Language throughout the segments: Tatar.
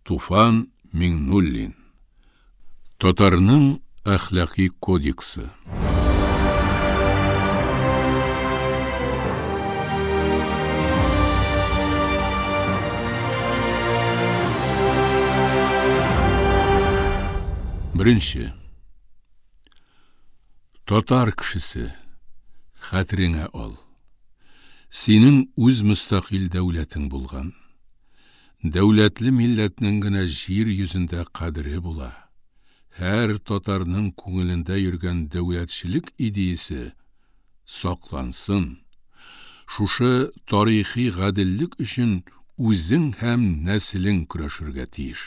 Туфан Миңнуллин. Татарның әхләкый кодексы. Беренче. Татар кешесе, хәтереңә ал. Синең үз мөстәкыйль дәүләтең булган. Дәүләтле милләтнең генә җир йөзендә кадере була. Һәр татарның күңелендә йөргән дәүләтчелек идеясе саклансын. Шушы тарихи гаделлек өчен үзең һәм нәселең көрәшергә тиеш.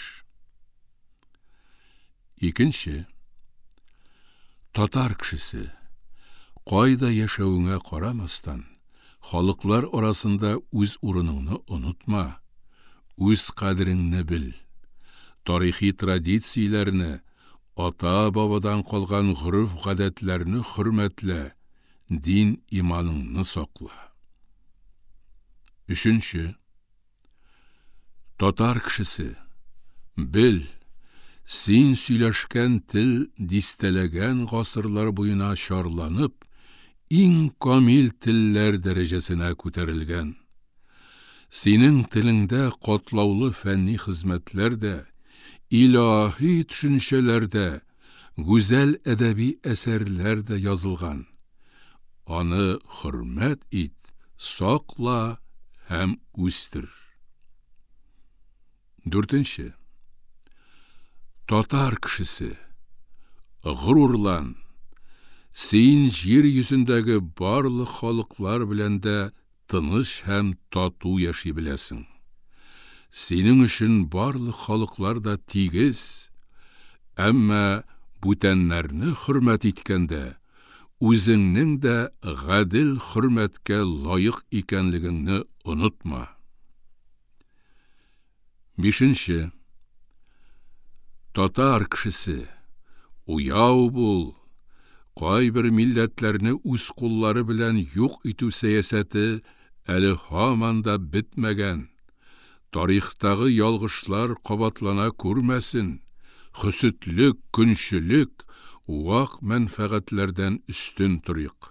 Икенче. Татар кешесе, кайда яшәвеңә карамастан, халыклар арасында үз урыныңны онытма, үз кадереңне бел. Тарихи традицияләрне, ата-бабадан калган гореф-гадәтләрне хөрмәтлә, дин-иманыңны сакла. Өченче. Татар кешесе, бел, син сөйләшкән тел дистәләгән гасырлар буена чарланып, иң камил телләр дәрәҗәсенә күтәрелгән. Синең телеңдә катлаулы фәнни хезмәтләр дә, илаһи төшенчәләр дә, гүзәл әдәби әсәрләр дә язылган. Аны хөрмәт ит, сакла һәм үстер. Дүртенче. Татар кешесе. Горурлан. Син җир йөзендәге барлык халыклар белән дә тыныч һәм тату яши беләсең. Синең өчен барлык халыклар да тигез, әмма бүтәннәрне хөрмәт иткәндә, үзеңнең дә гадел хөрмәткә лаек икәнлегеңне онытма. Бишенче. Татар кешесе, уяу бул, кайбер милләтләрне үз куллары белән юк итү сәясәте әле һаман да бетмәгән, тарихтагы ялгышлар кабатлана күрмәсен, хөсетлек, көнчелек, вак мәнфәгатьләрдән өстен торыйк.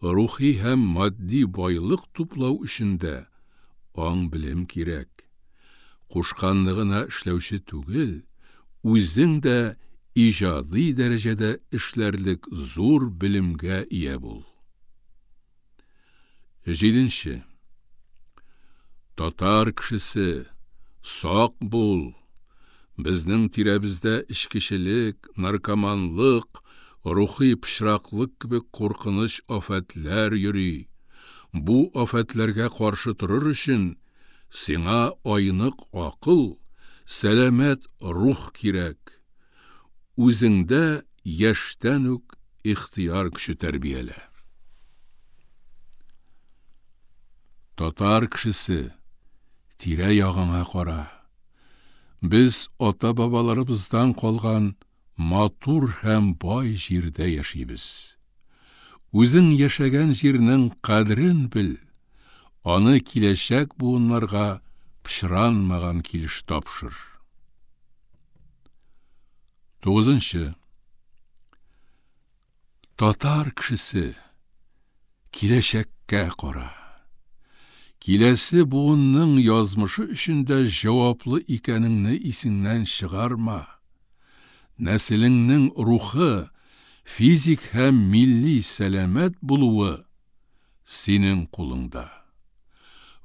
Рухи һәм матди байлык туплау өчен дә аң-белем кирәк. Кушканны гына эшләүче түгел, үзең дә иҗади дәрәҗәдә эшләрлек зур белемгә ия бул. Җиденче. Татар кешесе, сак бул! Безнең тирәбездә эчкечелек, наркоманлык, рухи пычраклык кебек куркыныч афәтләр йөри. Бу афәтләргә каршы торыр өчен сиңа айнык акыл, сәламәт рух кирәк. Үзеңдә яшьтән үк ихтыяр көче тәрбиялә. Татар кешесе, тирә-ягыңа кара. Без ата-бабаларыбыздан калган Матур һәм бай җирдә яшибез. Үзең яшәгән җирнең кадерен бел, аны киләчәк буыннарга пычранмаган килеш тапшыр. Тугызынчы. Татар кешесе, киләчәккә кара. Киләсе буынның язмышы өчен дә җаваплы икәнеңне исеңнән чыгарма. Нәселеңнең рухы, физик һәм милли сәламәт булуы синең кулыңда.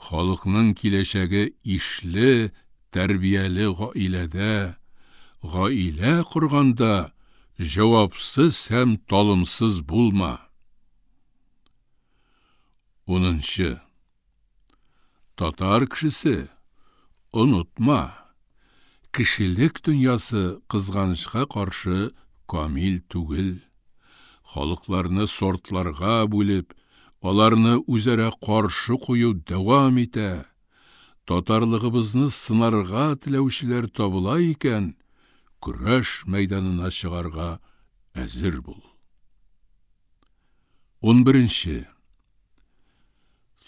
Халыкның киләчәге ишле, тәрбияле гаиләдә, гаилә корганда Җавапсыз һәм талымсыз булма. Унынчы. Татар кешесе, онытма, кешелек дөньясы кызганычка каршы камил түгел. Халыкларны сортларга бүлеп, аларны үзара каршы кую дәвам итә. Татарлыгыбызны сынарга теләүчеләр табыла икән, көрәш мәйданына чыгарга әзер бул. Унберенче.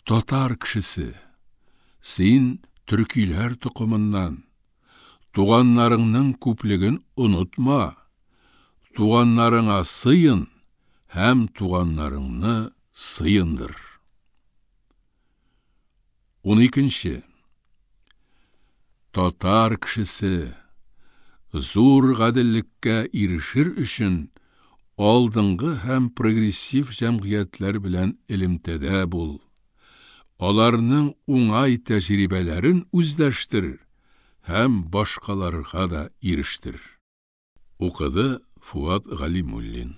Татар кешесе, син төркиләр токымыннан. Туганнарыңның күплеген онытма. Туганнарыңа сыен һәм туганнарыңны сыендыр. 12 Татар кешесе зур гаделлеккә ирешер өчен алдынгы һәм прогрессив җәмгыятьләр белән элемтәдә бул. Аларның уңай тәҗрибәләрен үзләштер һәм башкаларга да ирештер. Укыды Фуат Галимуллин.